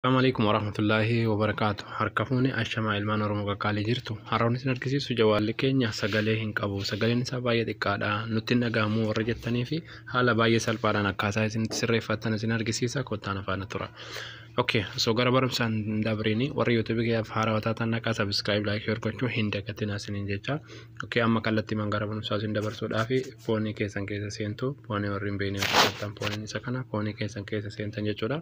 Assalamu alaikum warahmatullahi wabarakatuh. Harka fuune ashamaa ilmaan Oromoo qaqqaalee jirtu. Har'a wanti isin argisiisu jawaalli keenya sagalee hin qabu. Sagaleen isaa baay'ee xiqqaadha. Nutti hin dhaga'amu warra jettanii fi haala baay'ee salphaadhaan akkaataa isin itti sirreeffattan isin argisiisa kottaan afaana tura. Okay, so gara barumsaan hin dabrini warri YouTube kiyyaaf haarawaa taatan naqaa subscribe like share gochuu hin dagatinaa isiniin jecha. Okay, amma kallattii man gara barumsaa isin dabarsuudhaa fi foonii keessan keessa seentu foonii warri hin beekne yoo taatan fooniin isa kana foonii keessan keessa seentan jechuudha.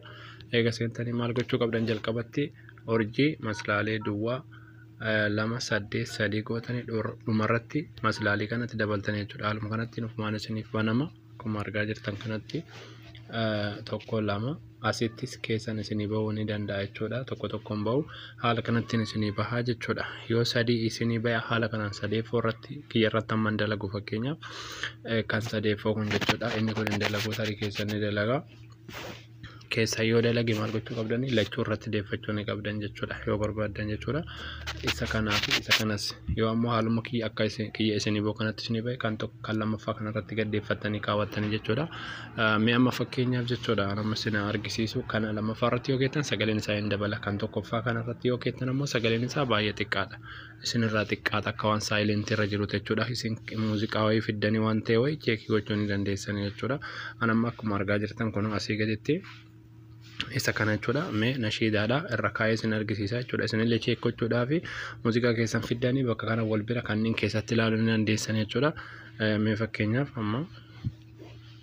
Eega seentanii maal gochuu qabdan jalqabatti urjii maslaalee duwwaa eh, lama saddeet sadii gootanii dhur- dhumarratti maslaalii kanatti dabaltanii jechuudha. Haaluma kanatti nufumaan isiniif banama akkuma argaa jirtan kanatti eh, tokko lama asittis keessan isinii bahuu ni danda'a jechuudha. Tokko tokkoon bahu haala kanattiin isinii bahaa jechuudha. Yoo sadii isinii bahe haala kanaan sadeeffoo irratti kiyya irratti amma hin dalagu fakkeenyaaf eh, kan sadeeffoo kun jechuudha. Inni kun hin dalagu tarii keessan ni dalaga. keessaa yoo dalage maal gochuu qabdan lachuu irratti deeffachuu ni qabdan jechuudha yoo barbaaddan jechuudha isa kanaa fi isa kanas yoo ammoo haaluma kiyya akka kiyya isinii boo kanatti isinii ba'e kan tokko kan lammaffaa kanarratti gaddeeffattanii kaawwattanii jechuudha mee amma fakkeenyaaf jechuudha amma isinaa argisiisu kana lammaffaa irratti yoo keettan sagaleen isaa hin dabala kan tokkoffaa kanarratti yoo keettan ammoo sagaleen isaa baay'ee xiqqaadha isinirraa xiqqaata akka waan saayileentii irra jiruuti jechuudha. Isin muuziqaa wayii fiddanii waan ta'e wayii cheekii gochuu ni dandeessanii jechuudha. An amma akkuma argaa jirtan kun asii gaditti isa kana jechuudha. Mee nashiidaadha irra kaa'ee isin argisiisa jechuudha. Isinillee cheek gochuudhaa fi muuziqaa keessan fiddanii bakka kana wal bira kanneen keessatti ilaaluu ni dandeessanii jechuudha. Mee fakkeenyaaf amma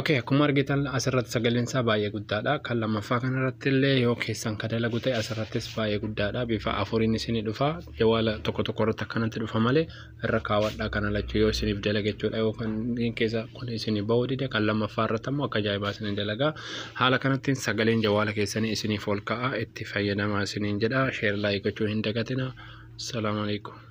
Okay, akkuma argitan asirratti sagaleen isaa baay'ee guddaadha. Kan lammaffaa kanarratti illee yoo keessan ka dalagu ta'e asirrattis baay'ee guddaadha. Bifa afuriin isinii dhufa. Jawaala tokko tokko irratti akkanatti dhufa malee irra kaawwadhaa kana lachuu yoo isiniif dalage jechuudha. Yoo kan keessa kun isinii bahuu dide kan lammaffaa irratti ammoo akka ajaa'ibaa isinii dalaga. Haala kanattiin sagaleen jawaala keessanii isiniif ol ka'a itti fayyadamaa isiniin jedha. Sheer laayik gochuu hin dagatina. Salaamu alaikum.